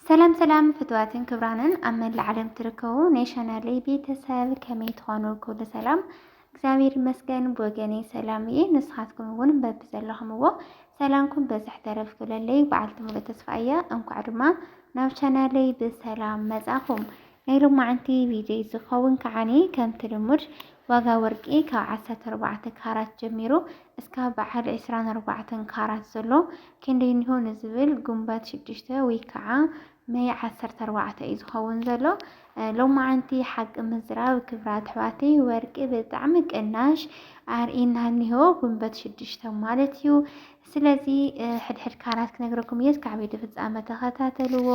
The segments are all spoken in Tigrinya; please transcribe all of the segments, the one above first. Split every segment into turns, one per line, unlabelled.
ሰላም ሰላም ፍትዋትን ክብራንን ኣብ መላእ ዓለም ትርከቡ ናይ ቻናለይ ቤተሰብ ከመይ ትኾኑ? ኩሉ ሰላም እግዚኣብሔር ይመስገን ብወገነይ ሰላም እየ። ንስኻትኩም እውን በቢ ዘለኹምዎ ሰላምኩም በዝሕ ተረፍ ክብለለይ በዓልቲ ሙሉእ ተስፋ እያ። እንኳዕ ድማ ናብ ቻናለይ ብሰላም መጻኹም። ናይ ሎማዓንቲ ቪድዮይ ዝኸውን ከዓኒ ከምቲ ልሙድ ዋጋ ወርቂ ካብ ዓሰርተ ኣርባዕተ ካራት ጀሚሩ እስካብ በዓል ዕስራን ኣርባዕተን ካራት ዘሎ ክንደይ እኒሆ ንዝብል ጉንበት ሽዱሽተ ወይ ከዓ መይ ዓሰርተ ኣርባዕተ እዩ ዝኸውን ዘሎ። ሎማዓንቲ ሓቂ ምዝራብ ክብራት ኣሕዋተይ ወርቂ ብጣዕሚ ቅናሽ ኣርእና እኒሆ ጉንበት ሽዱሽተ ማለት እዩ። ስለዚ ሕድሕድ ካራት ክነግረኩም እየ እስካዕ ቪድዮ ፍፃመ ተኸታተልዎ።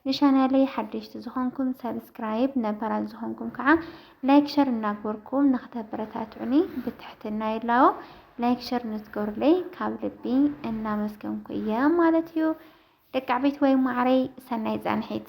ንቻናለይ ሓደሽቲ ዝኾንኩም ሳብስክራይብ ነባራት ዝኾንኩም ከዓ ላይክ ሸር እናግበርኩም ንክተበረታትዑኒ ብትሕትና ይላቦ። ላይክ ሸር ንዝገብሩለይ ካብ ልቢ እናመስገንኩ እየ ማለት እዩ። ደቂ ዓበይቲ ወይ ማዕረይ ሰናይ ፃንሒት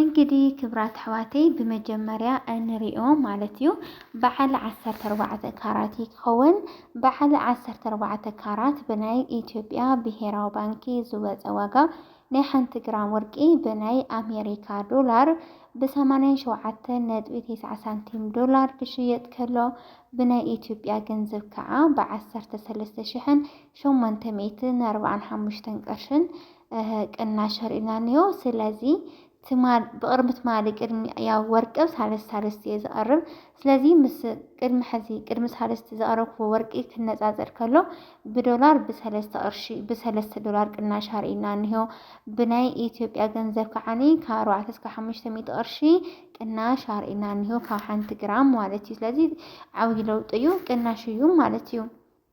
እንግዲ ክብራት ኣሕዋተይ ብመጀመርያ እንሪኦ ማለት እዩ በዓል ዓሰርተ ኣርባዕተ ካራት ይኸውን። በዓል ዓሰርተ ኣርባዕተ ካራት ብናይ ኢትዮጵያ ብሄራዊ ባንኪ ዝወፀ ዋጋ ናይ ሓንቲ ግራም ወርቂ ብናይ ኣሜሪካ ዶላር ብሰማንያን ሸውዓተን ነጥቢ ቴስዓ ሳንቲም ዶላር ክሽየጥ ከሎ ብናይ ኢትዮጵያ ገንዘብ ከዓ ብዓሰርተ ሰለስተ ሽሕን ሸሞንተ ሚእትን ኣርባዓን ሓሙሽተን ቅርሽን ቅናሽ ርኢና እንዮ ስለዚ ትማል ብቅድሚ ትማሊ ቅድሚ ያው ወርቂ ሳልስቲ ሳልስቲ እየ ዝቐርብ ስለዚ ምስ ቅድሚ ሕዚ ቅድሚ ሳልስቲ ዘቕረብክዎ ወርቂ ክነፃፀር ከሎ ብዶላር ብሰለስተ ቅርሺ ብሰለስተ ዶላር ቅናሽ ኣርኢና እንዮ ብናይ ኢትዮጵያ ገንዘብ ከዓኒ ካብ ኣርባዕተ እስከ ሓሙሽተ ሚእቲ ቅርሺ ቅናሽ ኣርኢና እንዮ ካብ ሓንቲ ግራም ማለት እዩ ስለዚ ዓብዪ ለውጢ እዩ ቅናሽ እዩ ማለት እዩ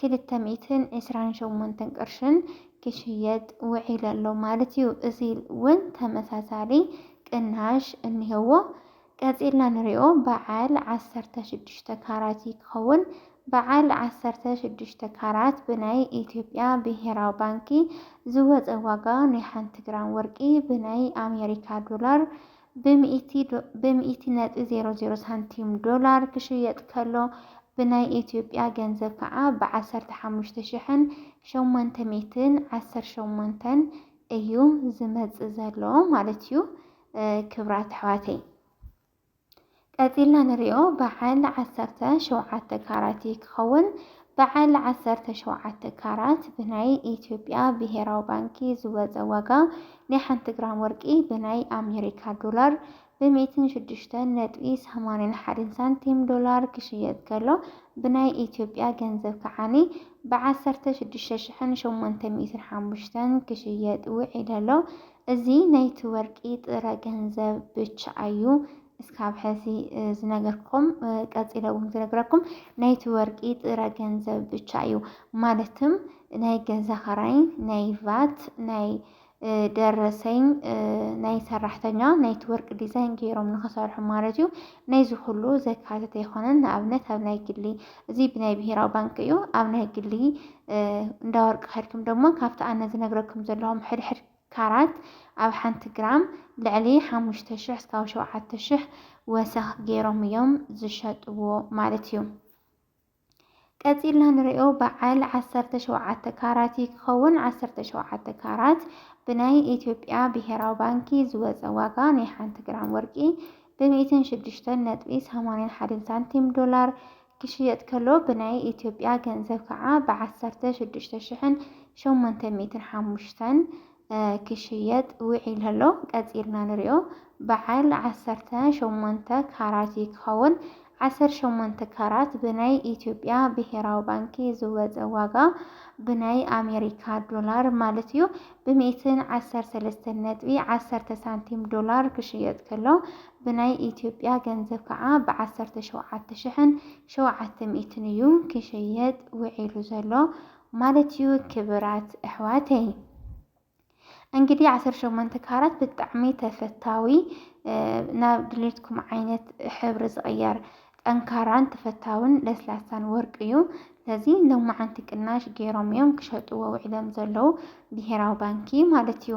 ክልተ ሚእትን ዕስራን ሸሞንተን ቅርሽን ክሽየጥ ውዒሉ ኣሎ ማለት እዩ። እዚ እውን ተመሳሳሊ ቅናሽ እኒሀዎ። ቀፂልና ንሪኦ በዓል ዓሰርተ ሽዱሽተ ካራት እዩ ክኸውን። በዓል ዓሰርተ ሽዱሽተ ካራት ብናይ ኢትዮጵያ ብሄራዊ ባንኪ ዝወፀ ዋጋ ናይ ሓንቲ ግራም ወርቂ ብናይ ኣሜሪካ ዶላር ብሚኢቲ ነጥቢ ዜሮ ዜሮ ሳንቲም ዶላር ክሽየጥ ከሎ ብናይ ኢትዮጵያ ገንዘብ ከዓ ብዓሰርተ ሓሙሽተ ሽሕን ሸሞንተ ሚእትን ዓሰርተ ሸሞንተን እዩ ዝመፅእ ዘሎ ማለት እዩ። ክብራት ኣሕዋተይ ቀጺልና ንሪኦ በዓል ዓሰርተ ሸውዓተ ካራት እዩ ክኸውን። በዓል ዓሰርተ ሸውዓተ ካራት ብናይ ኢትዮጵያ ብሄራዊ ባንኪ ዝወፀ ዋጋ ናይ ሓንቲ ግራም ወርቂ ብናይ ኣሜሪካ ዶላር ብሚእትን ሽዱሽተን ነጥቢ ሰማንያን ሓደን ሳንቲም ዶላር ክሽየጥ ከሎ ብናይ ኢትዮጵያ ገንዘብ ከዓኒ ብዓሰርተ ሽዱሽተ ሽሕን ሸሞንተ ሚእትን ሓሙሽተን ክሽየጥ ውዒሉ ኣሎ። እዚ ናይቲ ወርቂ ጥረ ገንዘብ ብቻ እዩ። እስካብ ሐዚ ዝነገርኩም ቀፂለ እውን ዝነግረኩም ናይቲ ወርቂ ጥረ ገንዘብ ብቻ እዩ ማለትም ናይ ገዛ ኸራይ ናይ ቫት ናይ ደረሰኝ ናይ ሰራሕተኛ ናይቲ ወርቂ ዲዛይን ገይሮም ንክሰርሑ ማለት እዩ ናይዚ ኩሉ ዘካተተ ኣይኮነን ንኣብነት ኣብ ናይ ግሊ እዚ ብናይ ብሄራዊ ባንክ እዩ ኣብ ናይ ግሊ እንዳ ወርቂ ከድኩም ደሞ ካብቲ ኣነ ዝነግረኩም ዘለኹም ሕድሕድ ካራት ኣብ ሓንቲ ግራም ልዕሊ ሓሙሽተ ሽሕ እስካብ ሸውዓተ ሽሕ ወሰኽ ገይሮም እዮም ዝሸጥዎ ማለት እዩ። ቀጺልና ንሪኦ በዓል ዓሰርተ ሸውዓተ ካራት እዩ ክኸውን። ዓሰርተ ሸውዓተ ካራት ብናይ ኢትዮጵያ ብሄራዊ ባንኪ ዝወፀ ዋጋ ናይ ሓንቲ ግራም ወርቂ ብሚእትን ሽዱሽተን ነጥቢ ሰማንያን ሓደን ሳንቲም ዶላር ክሽየጥ ከሎ ብናይ ኢትዮጵያ ገንዘብ ከዓ ብ ዓሰርተ ሽዱሽተ ሽሕን ሸሞንተ ሚእትን ሓሙሽተን ክሽየጥ ውዒሉ ኣሎ። ቀጺልና ንሪኦ በዓል ዓሰርተ ሸሞንተ ካራት እዩ ክኸውን። ዓሰርተ ሸሞንተ ካራት ብናይ ኢትዮጵያ ብሄራዊ ባንኪ ዝወፀ ዋጋ ብናይ ኣሜሪካ ዶላር ማለት እዩ ብ ሚእትን ዓሰርተ ሰለስተን ነጥቢ ዓሰርተ ሳንቲም ዶላር ክሽየጥ ከሎ ብናይ ኢትዮጵያ ገንዘብ ከዓ ብ ዓሰርተ ሸውዓተ ሽሕን ሸውዓተ ሚእትን እዩ ክሽየጥ ውዒሉ ዘሎ ማለት እዩ ክብራት እሕዋተይ እንግዲህ ዓሰርተ ሸሞንተ ካራት ብጣዕሚ ተፈታዊ ናብ ድሌትኩም ዓይነት ሕብሪ ዝቕየር ጠንካራን ተፈታውን ለስላሳን ወርቂ እዩ ስለዚ ሎማዓንቲ ቅናሽ ገይሮም እዮም ክሸጥዎ ውዒሎም ዘለዉ ብሄራዊ ባንኪ ማለት እዩ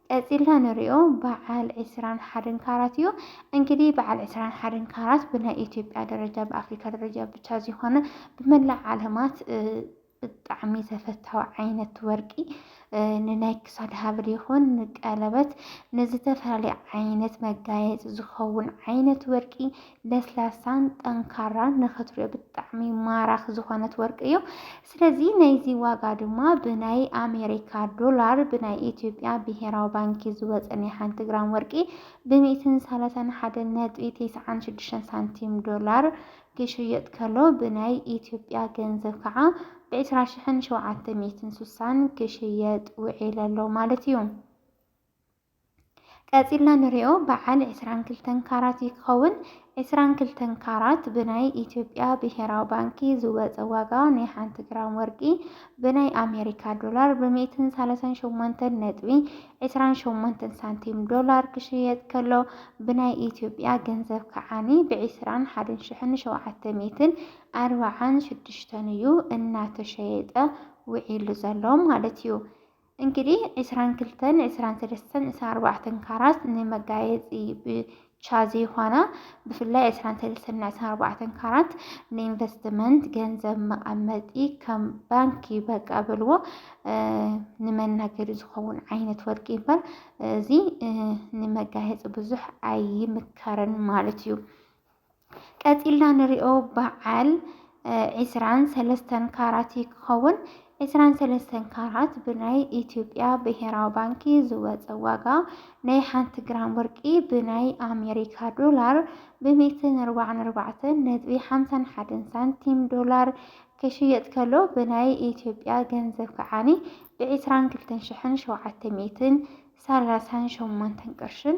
ቀጺልና ንሪኦ በዓል ዕስራን ሓደን ካራት እዩ። እንግዲህ በዓል ዕስራን ሓደን ካራት ብናይ ኢትዮጵያ ደረጃ ብኣፍሪካ ደረጃ ብቻ ዘይኮነ ብመላእ ዓለማት ብጣዕሚ ተፈታዊ ዓይነት ወርቂ ንናይ ክሳድ ሃብል ይኹን ንቀለበት ንዝተፈላለየ ዓይነት መጋየፂ ዝኸውን ዓይነት ወርቂ ለስላሳን ጠንካራን ንክትሪኦ ብጣዕሚ ማራኽ ዝኾነት ወርቂ እዩ። ስለዚ ናይዚ ዋጋ ድማ ብናይ ኣሜሪካ ዶላር ብናይ ኢትዮጵያ ብሄራዊ ባንኪ ዝወፀ ናይ ሓንቲ ግራም ወርቂ ብሚእትን ሰላሳን ሓደ ነጥቢ ቴስዓን ሽዱሽተን ሳንቲም ዶላር ክሽየጥ ከሎ ብናይ ኢትዮጵያ ገንዘብ ከዓ ብዕስራ ሽሕን ሸውዓተ ሚእትን ሱሳን ክሽየጥ ውዒሉ ኣሎ ማለት እዩ። ቀጺልና ንሪኦ በዓል ዕስራን ክልተን ካራት እዩ ክኸውን። ዕስራን ክልተን ካራት ብናይ ኢትዮጵያ ብሄራዊ ባንኪ ዝወፀ ዋጋ ናይ ሓንቲ ግራም ወርቂ ብናይ ኣሜሪካ ዶላር ብሚእትን ሰላሳን ሸሞንተን ነጥቢ ዕስራን ሸሞንተን ሳንቲም ዶላር ክሽየጥ ከሎ ብናይ ኢትዮጵያ ገንዘብ ከዓኒ ብዕስራን ሓደን ሽሕን ሸውዓተ ሚእትን ኣርባዓን ሽዱሽተን እዩ እናተሸየጠ ውዒሉ ዘሎ ማለት እዩ። እንግዲህ ዕስራን ክልተን ዕስራን ሰለስተን ዕስራን ኣርባዕተን ካራት ንመጋየፂ ብቻ ዘይኾና ብፍላይ ዕስራን ሰለስተን ዕስራን ኣርባዕተን ካራት ንኢንቨስትመንት ገንዘብ መቐመጢ ከም ባንኪ በቃ በልዎ ንመናገዲ ዝኸውን ዓይነት ወርቂ ይበር እዚ ንመጋየፂ ብዙሕ ኣይምከርን ማለት እዩ። ቀጺልና ንሪኦ በዓል ዒስራን ሰለስተን ካራት እዩ ክኸውን። ዒስራን ሰለስተን ካራት ብናይ ኢትዮጵያ ብሄራዊ ባንኪ ዝወፀ ዋጋ ናይ ሓንቲ ግራም ወርቂ ብናይ ኣሜሪካ ዶላር ብሜትን ኣርባዕን ኣርባዕተን ነጥቢ ሓምሳን ሓደን ሳንቲም ዶላር ክሽየጥ ከሎ ብናይ ኢትዮጵያ ገንዘብ ከዓኒ ብዒስራን ክልተን ሽሕን ሸውዓተ ሚእትን ሰላሳን ሸሞንተን ቅርሽን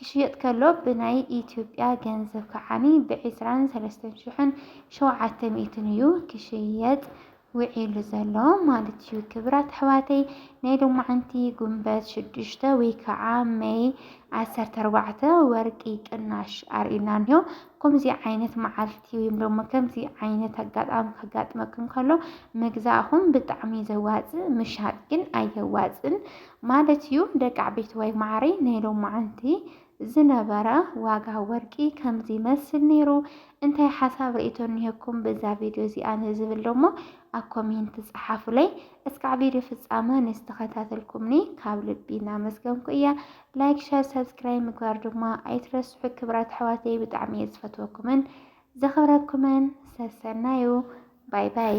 ክሽየጥ ከሎ ብናይ ኢትዮጵያ ገንዘብ ከዓኒ ብዒስራን ሰለስተን ሽሕን ሸውዓተ ሚእትን እዩ ክሽየጥ ውዒሉ ዘሎ ማለት እዩ። ክብራት ኣሕዋተይ ናይ ሎማዓንቲ ጉንበት ሽዱሽተ ወይ ከዓ መይ ዓሰርተ ኣርባዕተ ወርቂ ቅናሽ ኣርእዩና እንዮ። ከምዚ ዓይነት መዓልቲ ወይም ደሞ ከምዚ ዓይነት ኣጋጣሚ ከጋጥመክን ከሎ ምግዛእኹም ብጣዕሚ ዘዋፅእ ምሻጥ ግን ኣየዋፅን። ማለት እዩ ደቃዕቤትዋይ መዓረይ ናይ ሎማዓንቲ ዝነበረ ዋጋ ወርቂ ከምዚ ይመስል ነይሩ እንታይ ሓሳብ ርእቶ እኒሀኩም በዛ ቪድዮ እዚኣ ንዝብል ደሞ ኣብ ኮሜንት ፀሓፉለይ እስካዕ ቪድዮ ፍፃመ ንዝተኸታተልኩምኒ ካብ ልቢ እናመስገንኩ እያ ላይክ ሸር ሰብስክራይብ ምግባር ድማ ኣይትረስሑ ክብራት ኣሕዋተይ ብጣዕሚ እየ ዝፈትወኩምን ዘኽብረኩምን ሰሰናዩ ባይ ባይ